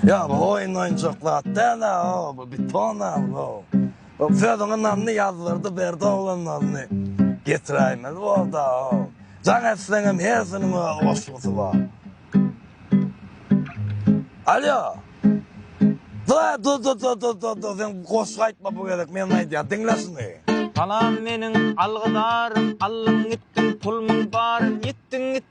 Ýa bu oýun oýunjak zat däl-ä o, bu beton-a bu. Bu sözüňi Nanny ýazdyrdy berdi oglanlaryny getiräýmeli boldy-a o. Jaň etseňem hersiniň öz goşgusy bar. Alýo! Dur-a dur-dur-dur-dur-dur-dur sen goşgy aýtma bu gezek men aýdýan diňle şuny. Salam meniň algydarym, aldyň gitdiň pulmyň baryn, ýitdiň gitdiň.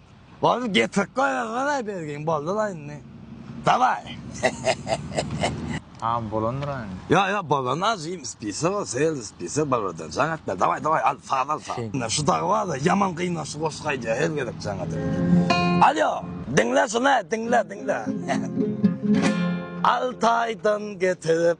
Boldy getirip goýa galaý bergin boldy la indi dawaý hehehehe. Tamam bolandyr a indi. Ýok ýok bolan ajy spisak ol seýildi spisak bolmadan jaň etme dawaý dawaý al saz al saz. Ine şu dagy barda ýaman gyna şu goşgy aýdýa her gezek jaň edip. Alýo diňle şuny diňle diňle. Altaýdan getirip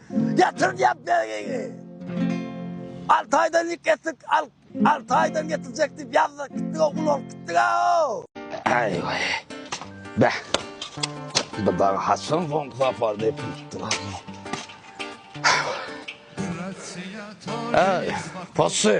Getir diýýän bergiňi. Altaýdan ýük getir, al, Altaýdan getirjek diýip ýazdyk, gitdik ogul bolup gitdik-ow. Aý-we. Beh. Bu dagy haçan soňky sapar depinipdir aka. Aý, posy.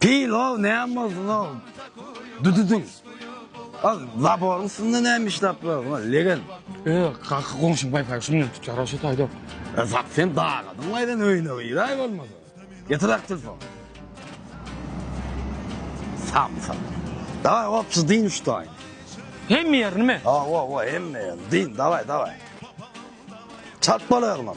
Pilaw näme bolsun ogul. Düdüdiň. Ol zaboryň üstünde näme işläp ýörüň, legen. Öý, gaky goňşym gaýtaýy şuny ýüzüp tutýar, hoşet aýdap. E, zat sen dagadyň gaýdan öýüne giräý bolmasa. Getiräý telefony. Samsyk. Dawaý, hopjy dyn uşdaýyn. Hemme ýerinimi? Hawa, hawa, hemme ýerini dyn, dawaý, dawaý. Çalt bolaý, oglan.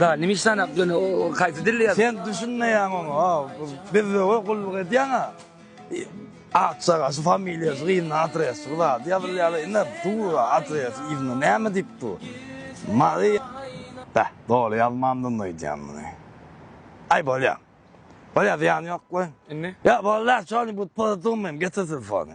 Da nime işleýän ak ýöne o haýsy dilde ýaz. Sen düşünmeýäň oňa bizzowa gulluk edýäňa akjaga şu familiýasy yzynda adres şu zady ýazylýada ine dur adres yzynda näme diýip dur mary beh doly ýazmandynda öýdýän muny aý bolýa bolýa zyýany ýok goý indi ýok bolýa şony bu pozitony getir telefony.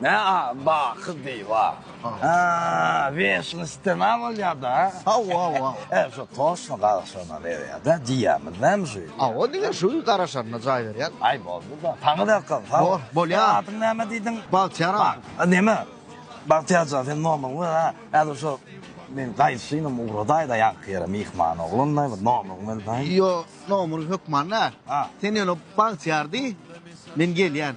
Nä a baky diýip a. A weşnistema bolýada. Hawa wa. E şu toşna garaşana berýada diýýämiz näme şu. Hawa diňe şu garaşanyna jaý berýän. Aý boldy da. Taňy berkan sag bol. Bolýa. Adyň näme diýdiň? Bagtyýar aga. A näme Bagtyýar jan sen nomeriňi ber a. Häzir şu men gaýdyşynam ugradaýda ýaňky ýere myhman oglanlaý bir nomeriňi berdaý. Ýo nomer hökman däl. Sen ýöne Bagtyýar diý men gelýän.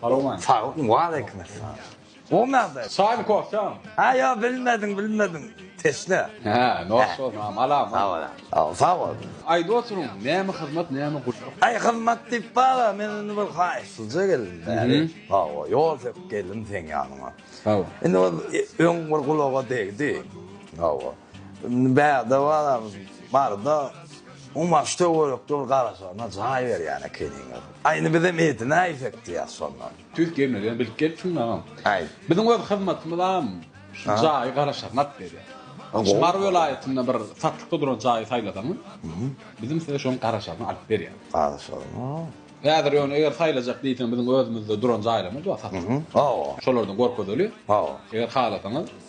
Salowmaleýkim. Salam, waleýkimessalam. Bolmady. Çaýmy kofýamy? Hä ýok bilmedim bilmedim. Teşne. Hä nos bolsun agam alam. Sag bol agam. Sag bol. Aýdyp oturyň näme hyzmat näme gulluk. Aý hyzmat diýip bara men indi bir haýyşsyzja geldim bäri. Hawa ýol söküp geldim seň ýanyňa. Hawa. Indi bir öň bir gulaga degdi. Hawa. Indi bärde baramyz barda. Oň bagşy töwerekde bir garaşanyna jaý berýän ekeniň. Aýny bizem eti näýsek diýýäs şonda. Tüýs gelmegem bilip gelipsiň agam. Aý. Biziň öz hyzmatymyzam şu jaýy garaşanlap berýär. Şu Mary welaýatynda bir satlykda duran jaýy saýlasaňyz, bizem size şoň garaşanyny alyp berýäris. Garaşanyny. Häzir ýöne eger saýlajak diýseň biziň özümizde duran jaýlarymyz bar satlyk. Hawa. Şolardan görkezeli. Hawa. Eger halasaňyz.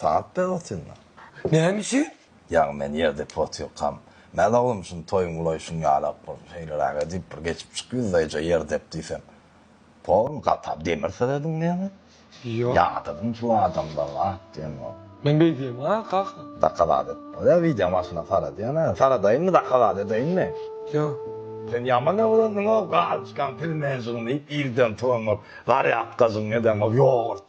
Sagat bäri otyryn-a. Näme üçin? Ýaňy men ýerdepli otyrkam, Mäl oglum, şuny toýuň gulaý şuny ýalap bir şeýleräk edip, bir geçip çyk ýüzleýje ýer dep diýsem, Poruň gatap demir serediň näme? Ýok. Ýadygyň şu adamlaryň at diýenok. Men beý diýemok-a, kaka. Zakazat et. Bolýa, wideo maşyna sar edýän-ä. Saradaýynmy, zakazat edeýinmi? Ýok. Sen ýaman öwrendiň-ow, galyçkaň pilmenjigiň diýip, irden turanyňow, zarýadkajygyň edeňow, ýogurt.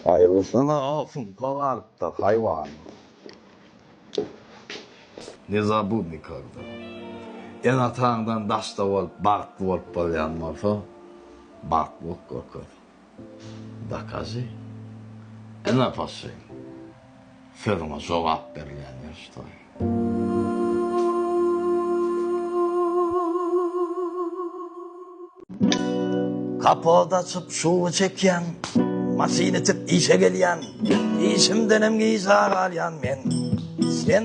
Aýyrysyna sumpla galypdyr haýwan. Ne zabudny kogda. Ene-ataňdan daşda bolup, bagtly bolup bolýan bolsa, bagtly bolup görkez. Dokaži. Ene paşyn. Sözüňe jogap berilýän ýörişdir. Kapot açyp suwy çekýän. Maşyn itip işe gelýän. Işimdenem yza galýan men. Sen.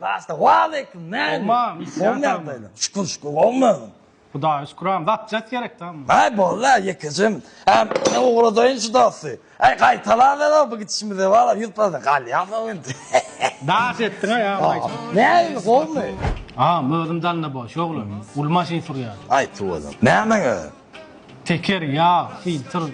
Basta waleýkim näme? Omman isyan salam. Şükür şükür gowymy? Hudaýa şükür agam zat jet gerek damy. Aý bolda ýekejem. Äm men ugradaýyn şu dosty. Aý gaýtalaberer bu gidişimize wala ýüz prosent galýasow indi. Daş etdiňä ýa maýsa. Näme gowmy? Agam özüm danda boş oglan. Uly maşyn sürýär. Aýt owadan. Nämäň özi? Teker, ýag, filtr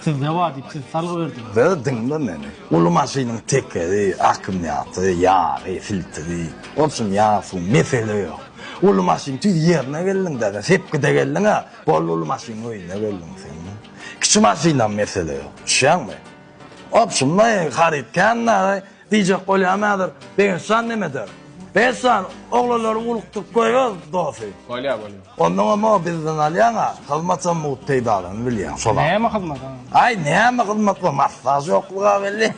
sizde bar diýip sizi salgy berdiler. Dur diňle meni. Uly maşynyň tekeri, akkumýatory, ýagy, filtri, bolsun ýag, suw, mesele ýok. Uly maşyn tüýs ýerine geldiň däde, sepgide geldiň-ä, boldy uly maşynyň öýüne geldiň sen. Kiçi maşynam mesele ýok. Düşýäňmi? Obşim, maý, haryt kän dagy. Diýjek bolýan häzir Begençjan nemede? Begençjan oglanlary ugrukdyryp goýber dosy. Bolýa bolýa. Onnoňam muňa bizden alýaňa hyzmatam mugt peýdalanyp bilýäň şolam. Näme hyzmat a? Aý näme hyzmat bu massaj ýokluga belli.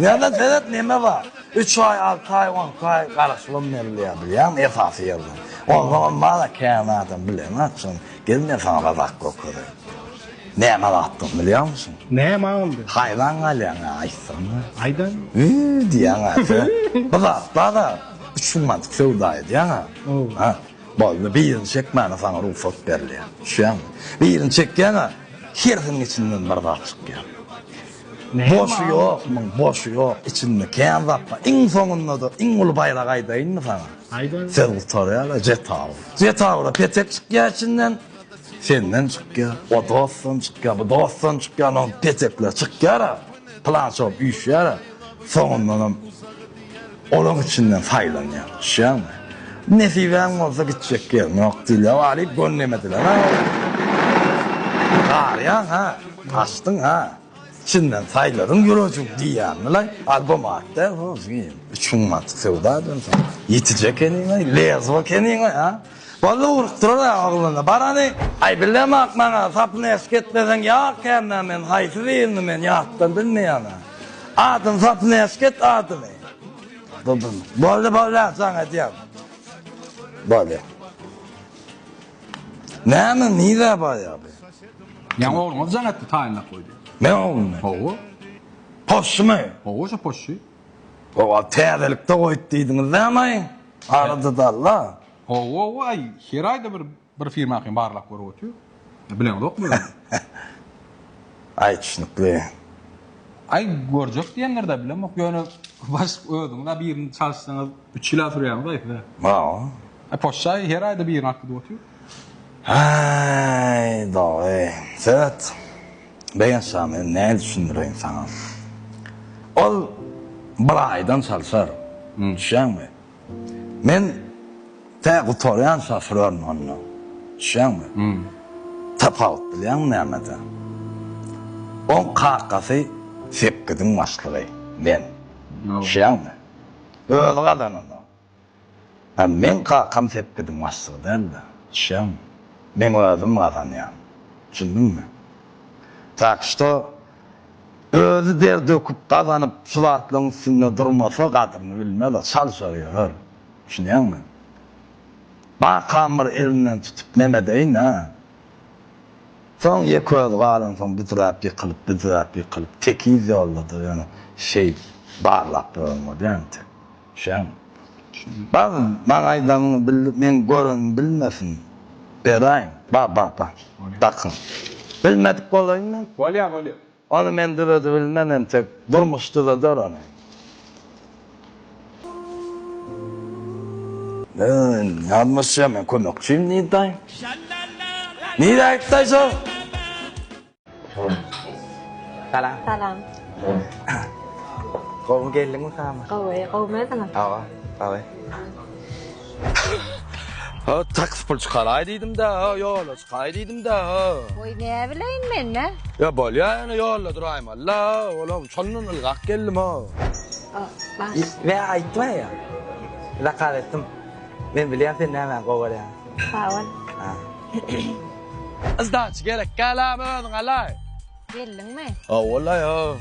Ýöne seret neme bar. Üç aý alty aý onki aý garaşylam berilýär bilýäňmi esasy ýerden. Onsoňam bana kän adam bileňaçyn gelme saňa bazak gökereýin. Näme batdygyny bilýärmişin? Näme boldy? Haýran galýaň a aýtsana. Aýdaň. Üýý diýýäň a sen. Bir zat bar-a, üç müň manatlyk söwda edýäň a. Ow. Ha, boldy, birini çekmäne saňa rugsat berilýär. Düşýäňmi? Birini çekýäň a, hersiniň içinden bir zat çykýar. Näme ol? Boşy ýok muň, boşy ýok. Içinde kän zat bar. Iň soňunda-da iň uly baýragy aýdaýynmy saňa? Aýdaň. Söz gutarýar-a, Jetawr. Jetawra petek çykýar içinden. Senden çykýar, o dostdan çykýar, bu dostdan çykýar, onuň petekleri çykýar-a, pylança bolup üýşýär-ä, soňundanam olaň içinden saýlanýar, düşýäňmi? Nesibäň bolsa gitjek ýeriň ýok diýilýär, walyp gönneme dilen-ä ol. Garýaň-a, gaçdyň-a. Çyndan saýlaryň ýürejiň diýýämilaý albo madda hozgyn üç müň mantyk söwda eden soň ýetijä keniňaý lezwa keniňaý a walla urupdyrar a ogluna barany aý bilem ak maňa sapyny eşk etmeseň ýok kämä men haýsy birini men ýatdan bilmeýän a adyny sapyny eşk et adyny dudum boldy boldy a jaň edýän bolýa näme nirä barýa bu. Ýaňy ogluňyz jaň etdi, taýynlap goýdy. Meň oglum? Hawa. Poşşymy? Hawa, şo poşşy. Ho-a, täzelikde goýup diýdiňiz näme-aý? Arada dal-a. Hawa-aý, her aýda bir, bir firmakam barlap görüp otyr. Bileňizokmy özüňiz? Aý, düşnükli. Aý, görjek diýendir-dä, bilemok. Ýöne, baş, özüňiz-ä birini çalyşsaňyz, üç ýyl-ä sürýär-mi, gaýsy-da? Hawa. Aý, poşşy-aý, her aýda birini akydyp otyr. Haý, dogy, Söwet begenç jany, nädip düşündireýin saňa. Ol bir aýdan çalşar, düşýäňmi? Men tä gutarýan şoförün onda, düşýäňmi? Tapawut bilýäňmi nämede? Oň kakasy sekkiziň başlygy, men, düşýäňmi? Özi gazananda. Ýa meň kakam sepgidiň başlygy däl-de, düşýäňmi? Meň özüm gazanýan. Düşündiňmi? Tak şto, özi der döküp gazanyp, şu zatlaryň üstünde durmasa, gadyryny bilmez-ä, çalşar ýörer. Düşünýäňmi? Kakam bir elinden tutup nemedeýin-ä? Soň ýekeözi galansoň büdräp ýykylyp, büdräp ýykylyp, tekiz ýolda-da ýöne şeýdip barlap ýören bolýar entek. Şäň. Bar, maňa aýdaryňy bil, meň görenim bilmesin. Beraýyn. Bar, bar, bar. Dakyn. Bilmedik bolaýynmy? Bolýar, bolýar. Ony men döredibilmen, entek durmuş döreder ony. Öý, ýalňyşýa, men kömekçiň, Nida. Nida, git-de aýt şol. Salam. Salam. Gowy geldiňmi salam? Gowy, gowy edin. Awa, awa. Ha, taks pul çykaraý diýdim-de, ha, ýola çykaý diýdim-de, ha. Oý, näbileýin men, nä? Ýa, bolýa, ýöne ýolda duraýma, la, olam, şondan ylgap geldim, ha. Ýa, aýtma, ýa. Zakaz etdim. Men bilýän sen nämä gowy görýäňi. Sag bol. Sdaç gerek galamy özüň alaý. Geldiňmi? Howwala yow.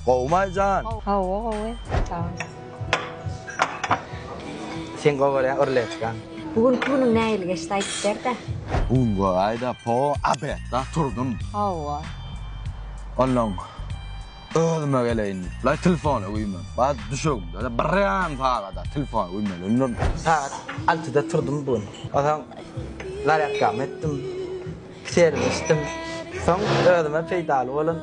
Gowumy Aýjan? Howwa gowy. Salam. Sen gowy görýän urletkan. Bu günki günüň nähili geçdi aýdyp berdä. Bu gün gowy aýda po abetda turdum. Howwa. Onnoň. Özüme geleýin diýip, laý telefony güýmenip, bar düşegimde-de birem sagada telefony güýmeli öňlerem. Sagat altyda turdum bu gün. Onsoň zarýadkamy etdim, kiselimi içdim. Soň özüme peýdaly bolan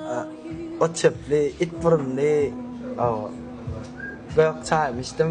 otçepli, itburunly gök çaýymy içdim.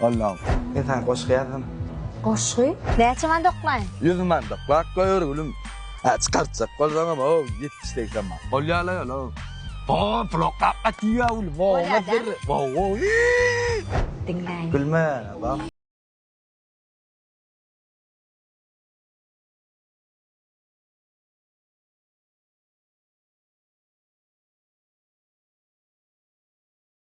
Allahym. Men saňa goşgy ýazdym. Goşgy? Näçe man doklaýyn? Ýüz man doklap goýber gülüm. Hä, çykartjak bolsaňam, o, ýetmiş segsen man. Bolýa-la ýöne, o. O, pul oklap gatyr-ýa gülüm. Bolýa däl. Wo-wo-ýi! Diňläýin. Gülme, bak.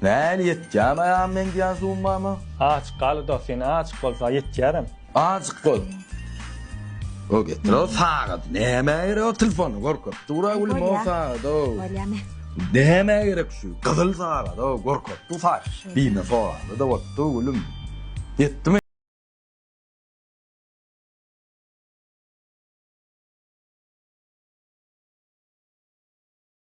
Näli ýetýämaýam men diýýän summama? Aç galy dos, ýene aç bolsa ýetýärem. Aç gol. O getir o sagady. Nämä gerek o telefony gorkup dura gülüm o sagady. Bolýamy? Nämä gerek şu gyzyl sagady o gorkup du saç. Diýme sorady da otdu gülüm. Ýetdimi?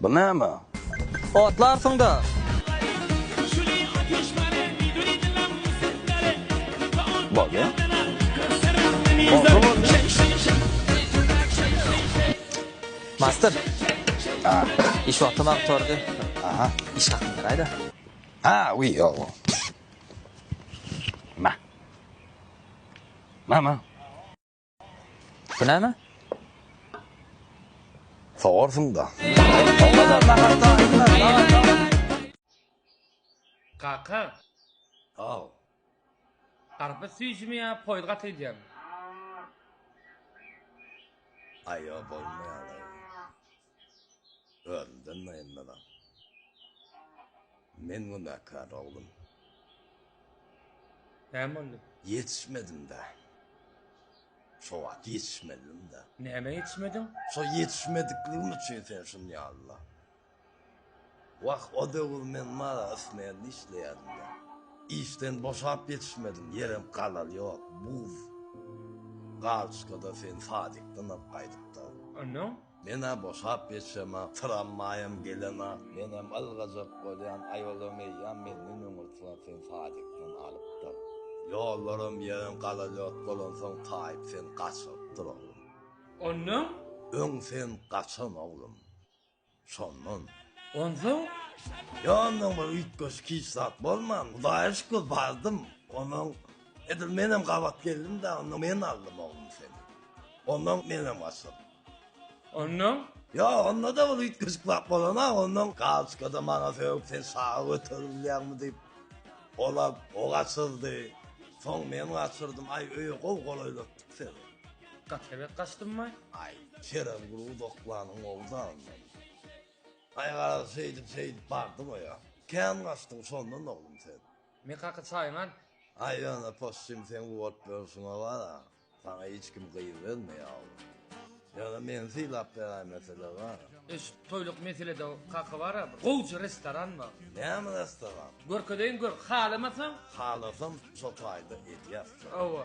Bu näme? Otlarsyň-da! Bolýa. Bolsa bolýa. Master. A. Iş wagty maňa gutardy. Aha. Iş hakym beraý-da. A, wi, ýoga. Ma. Ma, ma. Bu näme? Sogarsyň-da. Kaka. Haw. Garpyz süýjümi ýa poýuz gaty gidýärmi? Aý ýok bolmaýar. Özümden naýynmazam. Men günäkär oglum. Näme boldy? Ýetişmedim-dä. Şo wagt ýetişmelidim-dä. Nämä ýetişmediň? Şo ýetişmedikligim üçin sen şuny ýazdylar. Wah, o döwür men mala ösmände işleýärdim-dä. Işden boşap ýetişmedim, ýerem galar ýok, buz galçkada sen sadikden alyp gaýdyp-da. Ondan? Men-ä boşap ýetişemok, tramwaýam gelenok, menem ylgajak bolýan, aýolam eýýäm menden öňe turar, sen sadikden alyp-da. Ýollaram, ýerem galar ýok bolansoň, taýyp sen gaçyrypdyr, oglum. Ondan? Öň sen gaçan, oglum. Şondan. Onsoň, ýanyndan bir üýtgeşik hiç zat bolman, Hudaýa şükür, bardym. Onsoň, edil menem gabat geldim-de, onda men aldym, oglum, seni. Ondan menem gaçdym. Ondan? Ýok, onda-da bir üýtgeşik zat bolanok. Ondan galoçkada maňa sögüp, sen şaga göterip bilýäňmi diýip, ol alyp, o gaçyrdy. Soň men gaçyrdym. Aý, öýe gowy golaýlatdyk seni. Gatlebek gaçdymmy? Aý, Kerem bir uzaklanyň owzandan. Aý, garaz, şeýdip, şeýdip bardyň-oýa. Kän gaçdyň şondan, oglum, sen. Men kaka çaýyňy al. Aý, ýöne possym seň bu bolup ýörşüňe bar-a. Saňa hiç kim gyz bermeýär, oglum. Ýöne meni sylap beräý, mesele bar. Eşit, toýluk meselede kaka bar-a, bir gowja restoran bar. Näme restoran? Görkezeýin, gör. Halamasaň? Halasam, şo taýda edýäs. Hawa.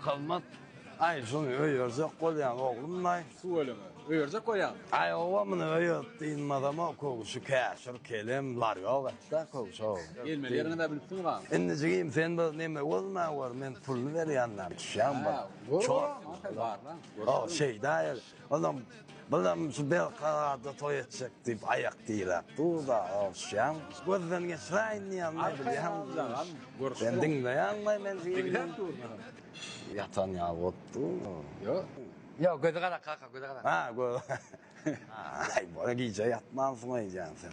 Hyzmat, Aý, şuny öýerjek bolýaň, oglumlaý. Tüweleme, öýerjek bolýaň. Aý, oba, muny öýerip dynmazam-a, köwşi käşir, kelem, lar ýok et-dä, köwşi-ow. Gelmeli ýeriňiz-ä bilip durmaň. Indi, jigim, sen bir neme gözüme gör, men puluny berýän-ä, düşýäňmi bir? Hä, gör, gör, aman, sen barlaň. O, şeýdäýeli. Onam, Bilam şu Belkaraada toý etjek diýip aýak diräp dur-da, oguşjan, gözden geçiräýin diýýän näbilýäňmi? Sen diňleýäňmi men diýýän? Ýatan ýaly bolup dur. Ýok, gözi gara kaka, gözi gara. Aý, gijä ýatmansyň öýdýän sen.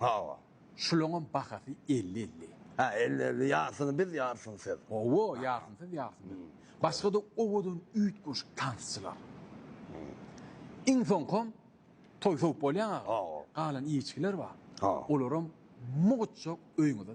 Hawa. Şulaňam bahasy elli-elli. Hä, elli-elli, ýarsyny biz, ýarsyny siz. Hawa, ýarsyny siz, ýarsyny biz. Başga-da owadan üýtgeşik tansçylar. Iň soňkam toý sowup bolýaň aga. Galan iýiçgiler bar. Olaram mugt-çog öýüňize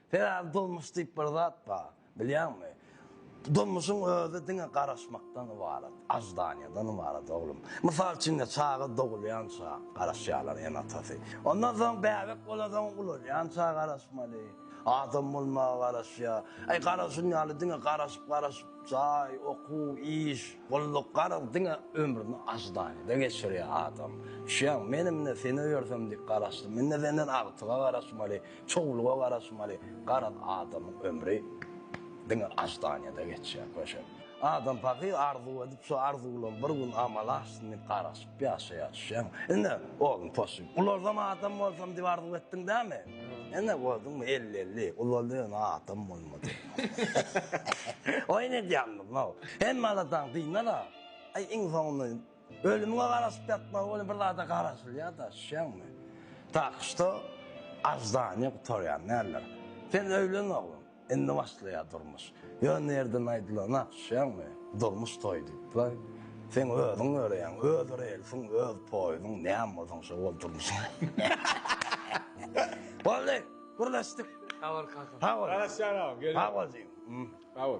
Sebäbi durmuş diýip bir zat bar, bilýäňmi? Durmuşyň özi diňe garaşmakdan ybarat, aždaniýadan ybarat, oglum. Mysal üçin indi çaga dogulýança garaşýarlar ene-atasy. Ondan soň bäbek bolansoň ulalýança garaşmaly. Adam bolmaga garaşýar. Aý, garaşan ýaly diňe garaşyp-garaşyp, jaý, okuw, iş, gulluk, garaz, diňe ömrüni aždaniýada geçirýär adam. Düşýäňmi? Menem indi seni öýersem diýip garaşdym. Indi senden agtyga garaşmaly. Çowluga garaşmaly, garaz adamyň ömri diňe aždaniýada geçýär, köşe. Adam pahyr arzuw edip, şo arzuwlam bir gün amala aşsyn diýip garaşyp ýaşaýar, düşýäňmi? Ine, oglum poşy, ulaljam adam bolsam diýip arzuw etdiň dämi? Ine, gördüňmi, elli-elli, ulaldy, ýöne adam bolmady. Oýun edýänmiz-ow. Hemme aladaň dynala, aý, iň soňunda Ölümiňe garaşyp ýatmagy welin bir zada garaşylýar-da, düşýäňmi? Tak şto aždaniýa gutarýar, näler. Sen öýlen oglum, indi başlaýar durmuş. Ýöne ýerden aýdylana, düşýäňmi, durmuş toý diýipler. Sen özüň ýöreýäň, öz relsiň, öz poýuzyň, näme bolsaň şo bol durmuşyň. Boldy, gürleşdik. Sag bol kaka. Sag bol. Garaşýan agam, gelýän. Sag bol jigim. Sag bol.